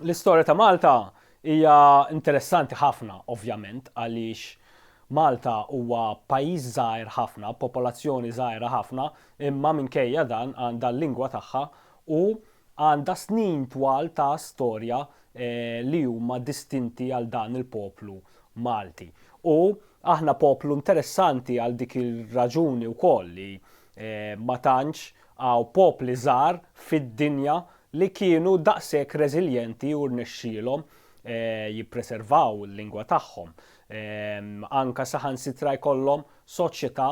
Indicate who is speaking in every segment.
Speaker 1: L-istorja ta' Malta hija interessanti ħafna ovvjament għaliex Malta huwa pajjiż żgħir ħafna b'popolazzjoni żgħira ħafna imma minkejja dan għandha l-lingwa tagħha u għandha snin twal ta' storja li huma distinti għal dan il-poplu Malti. U aħna poplu interessanti għal dik ir-raġuni wkoll li ma tantx hawn popli żgħar fid-dinja li kienu daqshekk reżiljenti u rnexxielhom jippreservaw il-lingwa tagħhom, anke saħansitra jkollhom soċjetà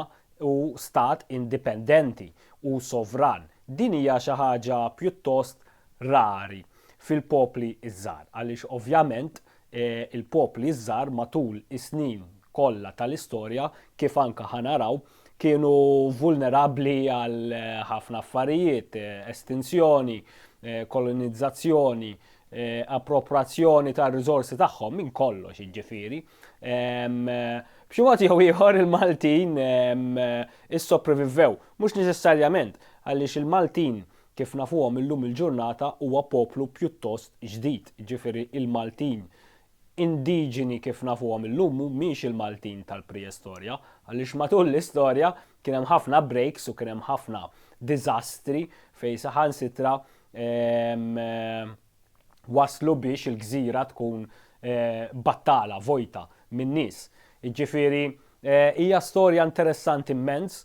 Speaker 1: u stat indipendenti u sovran. Din hija xi ħaġa pjuttost rari fil-popli ż-żgħar, għaliex ovvjament il-popli ż-żgħar matul is-snin kollha tal-istorja, kif anke ħa naraw, kienu vulnerabbli għal ħafna affarijiet, estinzjoni, kolonizzazzjoni, approprazzjoni tar-riżorsi tagħhom minn kollox jiġifieri. B'xi mod jew ieħor il-Maltin issoprevivvew, mhux neċessarjament għaliex il-Maltin kif nafuhom illum il-ġurnata huwa poplu pjuttost ġdid, jiġifieri il-Maltin indiġeni kif nafuhom illum mhumiex il-Maltin tal-preistorja għaliex matul l-istorja kien hemm ħafna breaks u kien hemm ħafna diżastri fejn saħansitra waslu biex il-gżira tkun battala, vojta min-nies. Jiġifieri hija storja interessanti mmens